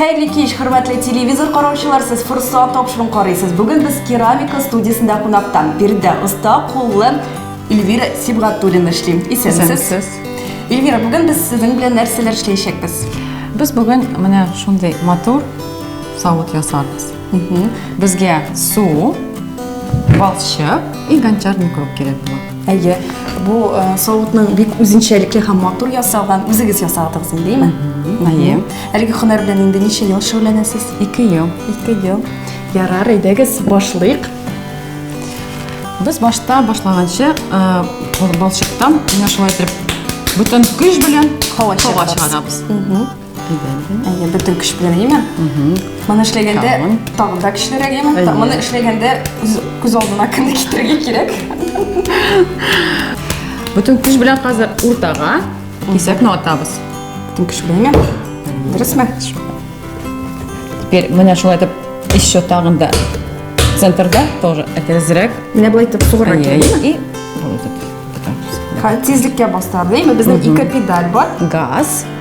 Хәерле кич, хөрмәтле телевизор караучылар, сез форсат тапшырын карыйсыз. Бүген без керамика студиясендә кунакта. Биредә оста куллы Эльвира Сибгатуллина эшли. Исәнмесез. Эльвира, бүген без сезнең белән нәрсәләр эшләячәкбез? Без бүген менә шундый матур савыт ясарбыз. Безгә су, балчык и гончарный круг кирәк була. Әйе, бу э, савытның бик үзенчәлекле һәм матур ясалган, үзегез ясадыгыз инде, әйеме? Әйе. Әлеге һөнәр белән инде ничә ел шөгыльләнәсез? 2 ел. 2 ел. Ярар, әйдәгез, башлыйк. Без башта башлаганчы, э, балчыктан менә шулай итеп бүтән көч белән һава чыгарабыз. Әйе, бөтен көч белән йимен. Моны эшләгәндә тагын да көчлерәк йимен. Моны эшләгәндә күз алдына кемне китерергә кирәк? Бөтен көч белән хәзер уртага кисәкне атабыз. Бөтен көч белән йимен. Дөресме? Теперь менә шулай итеп еще тагын да центрда тоже әкрәзрәк. Менә былай итеп тугры килә. И тизлеккә бастырды. Безнең ике педаль бар. Газ.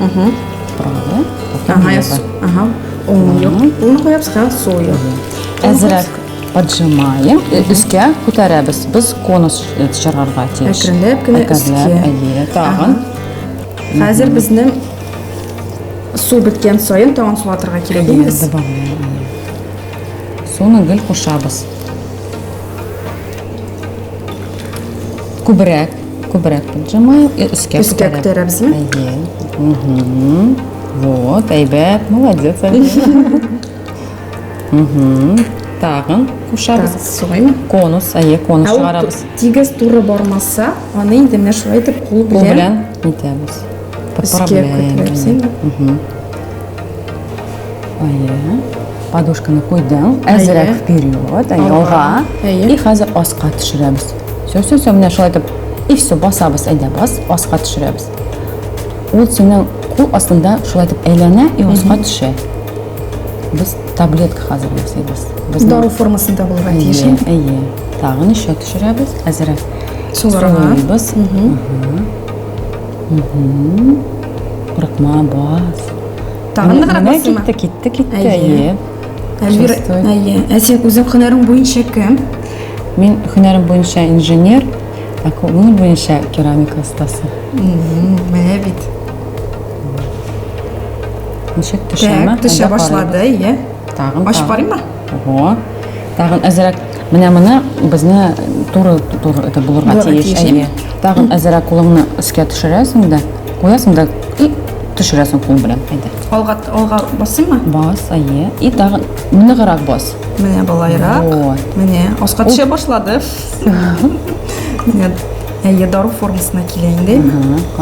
Угу. Правда? Ага, я су... Ага. О, ну, я бы сказала сою. Әзрәк поджимаем, өскә күтәрәбез. Без конус чыгарырга тиеш. Әкренләп кенә өскә. Әйе, тагын. Хәзер безнең су беткән саен тагын су атырга кирәк инде. Суны гел кушабыз. Күбрәк Күбрәк җылмаеп, э, өскә Өскә күтәрәбезме? Әйе. Мгм. Вот, әйбәт, молодец. Мгм. Тагын кушабыз. Тагын Конус, әйе, конус Ә ул тигез туры бармаса, аны инде менә шулай итеп кул Кул белән белән итәбез. Подправляем. Мгм. Әйе. Подушканы куйдың, әзрәк вперед, әйе, алга. И хәзер аска төшерәбез. все все все менә шулай итеп и все басабыз әйдә бас аска төшерәбез ул синең кул астында шулай итеп әйләнә и аска төшә без таблетка хәзер ясыйбыз дау формасында булырга тиеш әйе тагы ничә төшерәбез әзерәк суырабыз курыкма бас тагын ныграк басыйма китте китте китте әйе Әлвира, әйе. Ә син үзең һөнәрең буенча кем? Мин һөнәрем буенча инженер, ә күңел буенча керамика остасы. Менә бит. Ничек төшәме? Так, төшә башлады, иә. Тагын. Ачып карыймы? Ого. Тагын әзрәк. Менә моны безне туры туры итеп булырга тиеш. Әйе. Тагын әзрәк кулыңны өскә төшерәсең дә, куясың да и төшерәсең кул белән. Әйдә. Алга алга басыймы? Бас, әйе. И тагын Ныграк бас. Менә болайрак. Вот. Менә аска төшә башлады. Менә әйе дару формасына килә инде.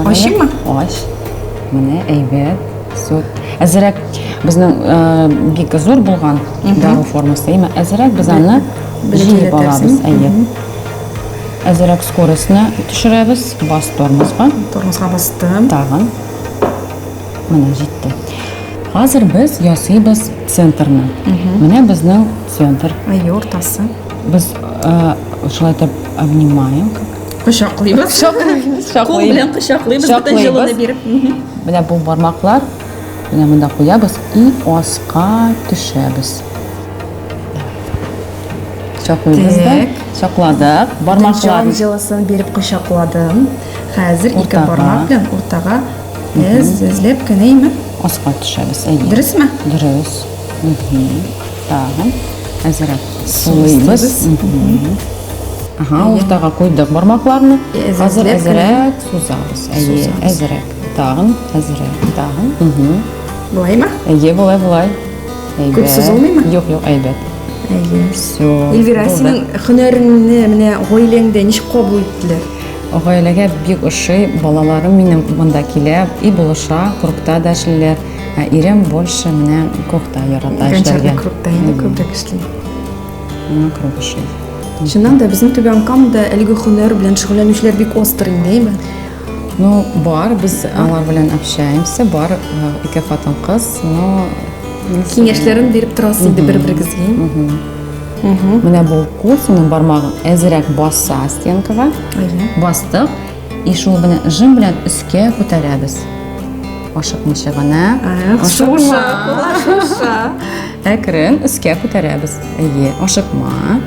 Ачыймы? Ач. Менә әйбәт. Сот. Әзерәк безнең э, бик зур булган дару формасы. Әмма әзерәк без аны җыеп алабыз. Әйе. Әзерәк скоростьны төшерәбез. Бас тормозга. Тормозга бастым. Тагын. Менә җитте. Хәзер без ясыйбыз центрны. Менә безнең центр. Әйе, уртасы. Без шулай итеп обнимаем. Кочаклыйбыз. Кочаклыйбыз. Кул белән кочаклыйбыз. Бөтен җылыны биреп. Менә бу бармаклар менә монда куябыз и аска төшәбез. Кочаклыйбыз да. Кочакладык. Бармаклар җылысын биреп кочакладым. Хәзер ике бармак белән уртага Без эзләп кенәйме? Аска төшәбез, әйе. Дөресме? Дөрес. Тагын әзрәк сулыйбыз. Ага, уртага куйдык бармакларны. Хәзер әзрәк сузабыз. Әйе, әзрәк. Тагын әзрәк. Тагын. Болаймы? Әйе, болай, болай. Күп сузылмыймы? Юк, юк, әйбәт. Әйе. Все. Эльвира, синең һөнәреңне менә гаиләңдә ничек кабул иттеләр? Гаиләгә бик ошый, балаларым минем монда килә, и булыша, клубта да эшлиләр. Ә ирем больше менә клубта ярата эшләргә. Клубта инде күбрәк эшли. Миңа клуб ошый. Чыннан да безнең Түбән Камада әлеге һөнәр белән шөгыльләнүчеләр бик остр инде, әйме? Ну, бар, без алар белән общаемся, бар ике хатын-кыз, но киңәшләрен биреп торасыз инде бер-берегезгә. Менә бу кофеның бармагын әзерәк басса стенкага. Бастык. И шул белән жим белән өскә күтәрәбез. Ашыкмыйча гына. Ашыкма. Ашыкма. Әкрен өскә күтәрәбез. Әйе, ашыкма.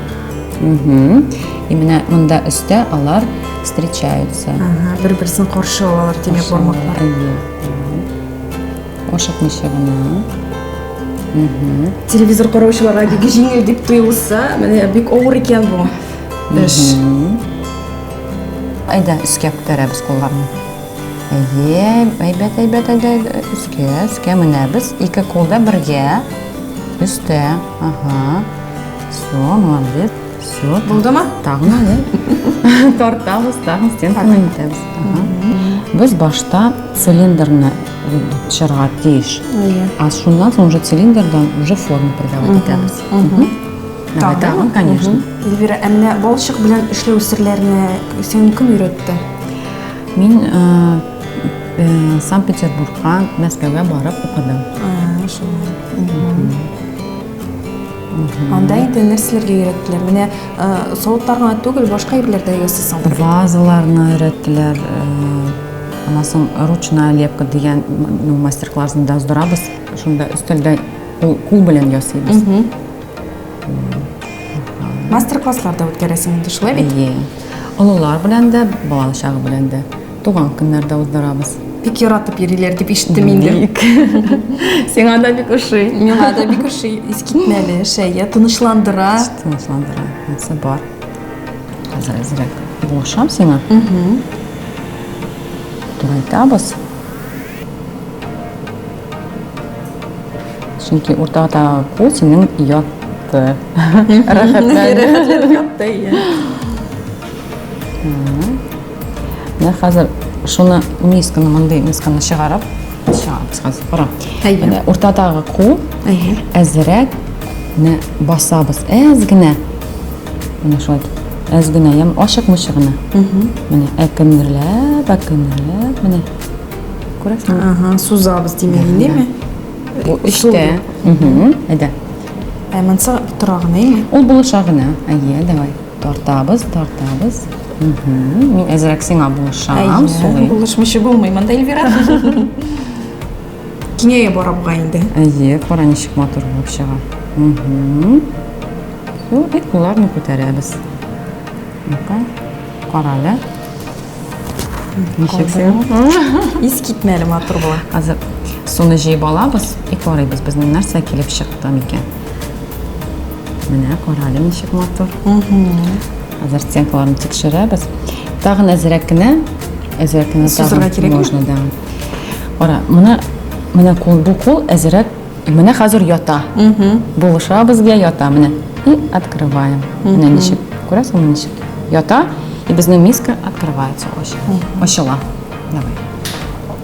Угу. И менә монда өстә алар встречаются. Ага, бер-берсен каршы алалар, димәк, бармаклар. Әйе. ашыкмыйча гына телевизор караучыларга бик җиңел дип тоелса менә бик авыр икән бу эш әйдә өскә күтәрәбез кулларны әйе әйбәт әйбәт әйдә өскә өскә менәбез ике кул да бергә өстә ага все молодец Все, булдымы? Тагын әле. Тартабыз, тагын стенканы итәбез. Без башта цилиндрны чырга тиеш. А шуннан соң уже цилиндрдан уже форма придавать итәбез. Давай, тагын, конечно. Эльвира, ә менә балчык белән эшләү серләренә син кем өйрәтте? Мин э, э, Санкт-Петербургка, Мәскәүгә барып укыдым. А, шулай. Анда инде нәрсәләргә өйрәттеләр? Менә э, савытлар гына түгел, башка әйберләр дә ясыйсың. Вазаларны өйрәттеләр. Э, аннан соң ручная лепка дигән ну, мастер-классын да уздырабыз. Шунда өстәлдә кул, кул белән ясыйбыз. Мастер-класслар да үткәрәсең инде шулай бит? Әйе. Олылар белән дә, балачагы белән дә. Туган көннәрдә уздырабыз. Бик яратып йөриләр дип ишеттем инде. Бик. Сиңа да бик ошый. Миңа да бик ошый. Искитмәле, шәя, тынычландыра. Тынычландыра. Нәрсә бар. Хәзер әзрәк булышам сиңа. Турайтабыз. Чөнки уртада кул синең ятты. Рәхәтләнде. Рәхәтләнде. Менә хәзер шуны мисканы, мондый мисканы чыгарып, чыгарабыз хәзер. Кара. Әйе. Уртадагы кул әйе. Әзрәк не басабыз. Әз генә. Менә шулай. Әз генә, ям ашык мышык гына. Менә әкемдерләп, әкемдерләп, менә. Күрәсеңме? Ага, сузабыз димәк, инде Бу эштә. Әйдә. Ә монсы торагына, әйе. Ул булыша гына. Әйе, давай. Тартабыз, тартабыз. Мин әзрәк сиңа булышам, сулыйм. Булышмыйча булмый монда Эльвира. Киңәя бара буга инде. Әйе, кара ничек матур булып чыга. Су и кулларны күтәрәбез. Ну-ка, кара әле. Ничек син? Ис китмәле матур була. Хәзер суны җыеп алабыз и карыйбыз, безнең нәрсә килеп чыкты микән. Менә карале ничек матур. Хәзер стенкаларын тикшерәбез. Тагын әзрәк кенә, әзрәк кенә Сузырга тагын кирәкме? можно, да. Ара, менә менә кул бу кул әзрәк. Менә хәзер ята. Булыша безгә ята менә. И открываем. Менә ничек. Күрәсеңме ничек? Ята, и безнең миска открывается очень. Ачыла. Давай.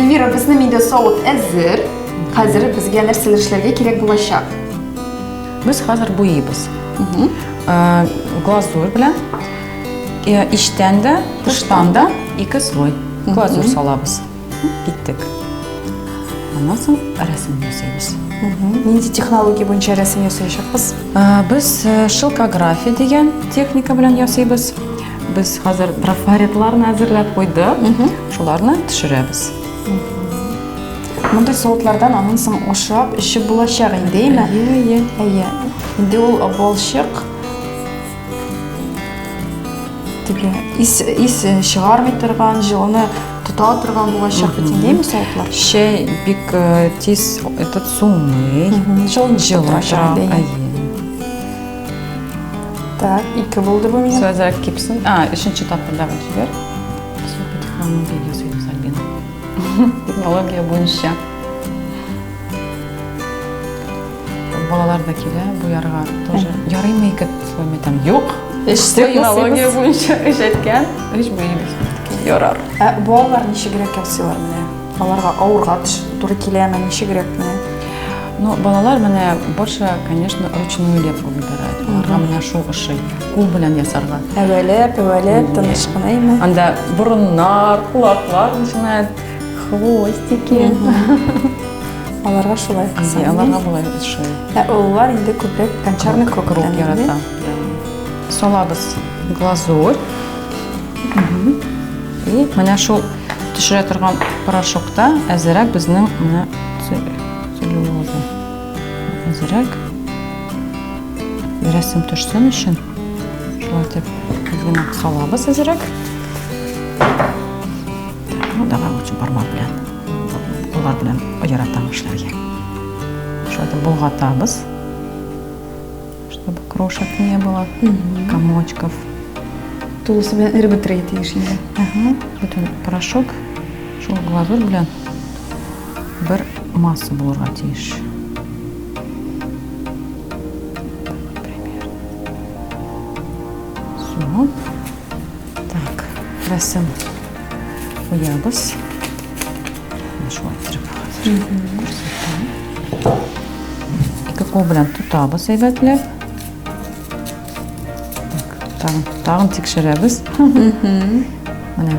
Эльвира, безнең инде савыт әзер. Хәзер безгә нәрсә эшләргә кирәк булачак? Без хәзер буйыбыз. Э, глазурь белән э, иштән дә, тыштан да ике слой глазурь салабыз. Киттек. Аннан соң рәсем ясыйбыз. Нинди технология буенча рәсем ясаячакбыз? Ә, Без э, шелкография дигән техника белән ясыйбыз. Без хәзер трафаретларны әзерләп куйдык. Шуларны төшерәбез. Мондый савытлардан аннан соң ашап, эчеп булачак инде, әйме? Әйе, әйе. Әйе. Инде ул балчык Теге ис, ис чыгармый торган, җылыны тота торган булачак бит инде ме савытлар? Чәй бик э, тиз этот суный. Җылын җылын тора. Так, ике булды бу минем. Сразу кипсин. А, өченче тапкырда вот теперь. Все, потихоньку ясыйбыз Альбина. Технология буенча. Балалар да килә бу ярга тоже. Ярыймы ике слойма там? Юк. Эш технология буенча эш әйткән. Эш буенча. Ярар. Ә балалар ничегрәк ясыйлар менә? Аларга авырга туры киләме, ничегрәк менә? Ну, балалар менә больше, конечно, ручную лепку выбирают. Аларга менә шул ошый. Кул белән ясарга. Әвәләп, әвәләп, тыныч кына име? Анда борыннар, колаклар начинает Хвостики. Аларга шулай кыса. Аларга болай шулай. Ә олылар инде күбрәк гончарный крок ярата. Салабыз глазурь. И менә шул төшерә торган порошокта әзерәк безнең менә целлюлоза. Әзерәк. Рәсем төшсен өчен. Шулай дип, генә салабыз әзерәк. Модалар өчен бармак белән, куллар белән яратам эшләргә. Шулай итеп болгатабыз. Чтобы крошек не было, комочков. Тулысы белән эреп бетерергә тиеш инде. Ага, бөтен порошок шул глазурь белән бер масса булырга тиеш. Примерно. Суны Так, рәсем куябыз. Шулай иттереп күрсәтәм. Ике кул белән тотабыз әйбәтләп. Тагын, тагын тикшерәбез. Менә.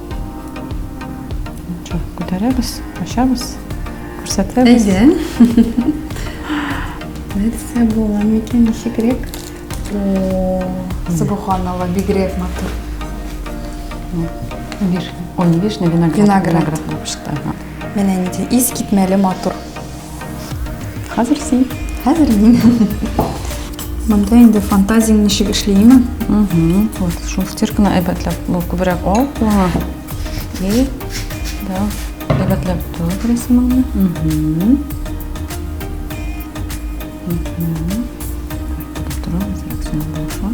Күтәрәбез, ачабыз, күрсәтәбез. Әйдә. Нәрсә була микән, ничегрәк? Субханалла, бигрәк матур. Вишня, ой, не вишня, виноград. Виноград. Виноград булып чыкты. Менә нинди искитмәле матур. Хәзер син. Хәзер мин. Монда инде фантазиям ничек эшли, имә? Угу. Вот, шул стирканы әйбәтләп, бу күбрәк ал кулыңа. И да, әйбәтләп тор рәсемеңне. Угу. Угу. Торабыз, рәсем булса.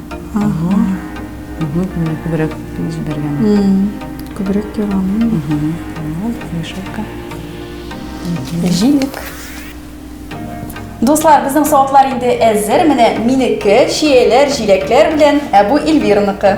Ага. Угу, менә күбрәк җибәргән. Күбрәк ярамый. Угу. Мешелка. Җилек. Дуслар, безнең савытлар инде әзер. Менә минеке, чияләр, җиләкләр белән, ә бу Эльвираныкы.